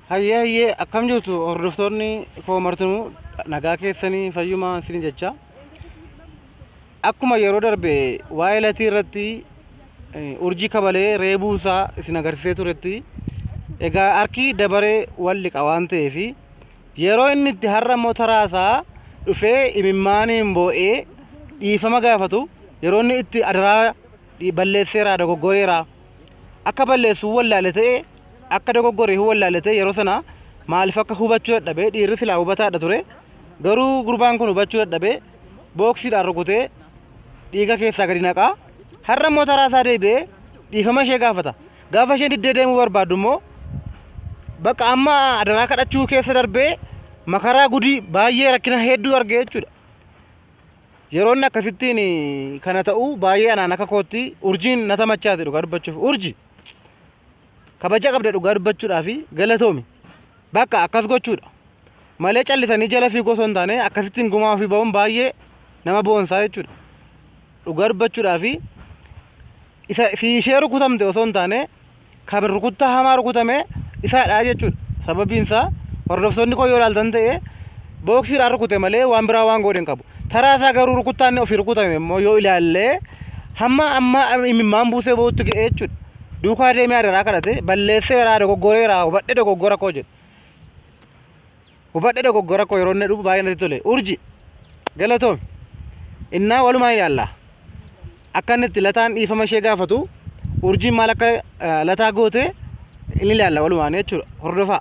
Hayyee hayyee akkam jirtu hordoftoonni koo martinuu nagaa keessanii fayyumaa isin jecha akkuma yeroo darbe waa'ee latii irratti eh, urjii kabalee reebuu isaa isin agarsiisee turetti egaa harki dabaree wal liqa waan ta'eef yeroo inni itti har'a immoo taraa isaa dhufee imimmaaniin boo'ee dhiifama gaafatu yeroo inni itti adaraa dhi- balleesseera dogoggoreera akka balleessu wallaale ta'e akka dogoggore wallaale ta'e yeroo sana maaliif akka hubachuu dadhabe dhiirri silaa hubataadha ture garuu gurbaan kun hubachuu dadhabe booksiidhaan rukutee dhiiga keessaa gadi naqaa har'a immoo taraa isaa deebi'ee dhiifama ishee gaafata gaafa isheen diddee deemuu barbaaddu immoo bakka amma adaraa kadhachuu keessa darbee makaraa gudii baay'ee rakkina hedduu argee jechuudha. Yeroo inni akkasittiin kana ta'u baay'ee anaan akka kootti urjiin na tamachaate dhugaa dubbachuuf urji kabaja qabda dhugaa dubbachuudhaa fi galatoomi bakka akkas gochuudha malee callisanii jala fiigoo osoo hin taane akkasittiin gumaa ofii ba'uun baay'ee nama boonsaa jechuudha dhugaa dubbachuudhaa fi isa si ishee rukutamte osoo hin taane kan rukuttaa hamaa rukutame isaadha jechuudha. Sababiin isaa hordoftoonni koo yoo ilaaltan ta'e booksiidhaan rukute malee waan biraa waan godhe hin qabu. Taraa isaa garuu rukuttaan ofii rukutame immoo yoo ilaalle hamma amma imimmaan buusee bootti ga'e jechuudha. Duukaa deemee adaraa kadhate balleesseeraa dogoggoreeraa hubadhe dogoggora koo jedhe. Hubadhe dogoggora koo yeroo inni dhufu baay'ee natti tole. Urji galatoomi. Innaa walumaa ilaalla. Akka inni itti lataan dhiifama ishee gaafatu urjiin maal akka eh, lataa goote inni ilaalla walumaan jechuudha. Hordofaa.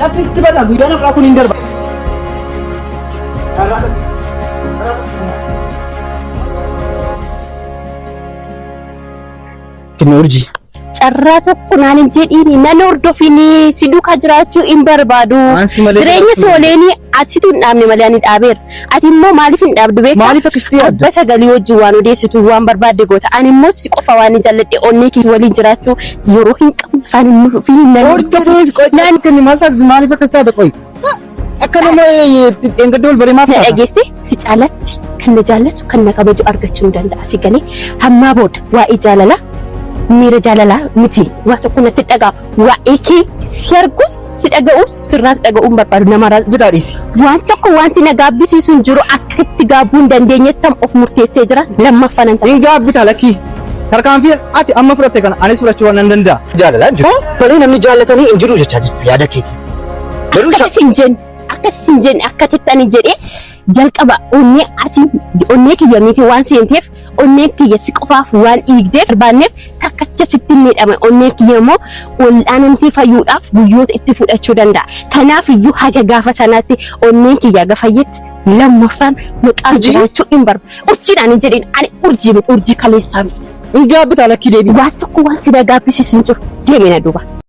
Lafti sitti bal'aa guyyaa lafa kun hin darba. Kenna urjii. Carraa tokko naan hin jedhiini nan hordofinii si duukaa jiraachuu hin barbaadu. Waan si malee Jireenya si jiraachuu- oleenii atitu hin dhaabne malee ani dhaabeera. Ati immoo maaliif hin dhaabdu beektaa? Maaliif akkasitti yaadda? Abba sagalii wajjin waan odeessitu waan barbaadde goota. Ani immoo si qofa waan hin jaalladhe onnee kee waliin jiraachuu yeroo hin qabne afaan hin nuuf fi hin nan Ortodoksii qoy naan kenni maal taate maaliif akkas taate qoy? Akka nama dheengadda wal baree maaf na taata? dhageesse si caalatti kan na jaallatu kan na kabaju argachuu ni danda'a si galee hammaa booda waa'ee jaalalaa miira jaalalaa miti waa tokko natti dhaga'ama. Waa'ee kee si arguus si dhaga'uus sirraas dhaga'uun barbaadu namarraa. Bitaa dhiisi. Waan tokko wanti na gaabbisiisu hin jiru akka itti gaabbuu hin dandeenyettan of murteessee jira lammaffaa nan ta'a. Hin gaabbitaa lakkii. Tarkaanfii ati amma fudhatte kana anis fudhachuu waan nan danda'a. Jaalalaan jiru. Malee namni jaallatanii hin jiru jechaa jirta yaada keetii. Garuu Akkas hin jenne akkas hin jenne akka tettanii jedhee jalqaba onnee ati onnee kiyya miti waan seenteef onneen kiyya si qofaaf waan dhiigdeef barbaanneef takkasicha sitti hin miidhame onneen kiyya immoo wal'aanamtee fayyuudhaaf guyyoota itti fudhachuu danda'a. Kanaaf iyyuu haga gaafa sanaatti onneen kiyya haga fayyetti lammaffaan maqaa Urjii? jiraachuu hin barba. Urjiidhaan hin jedhin ani urjii miti urjii kaleessaa miti. Hin gaabbitaa lakkii deebii. Waan tokko waan si dagaabbisiisu hin jiru deemina duuba.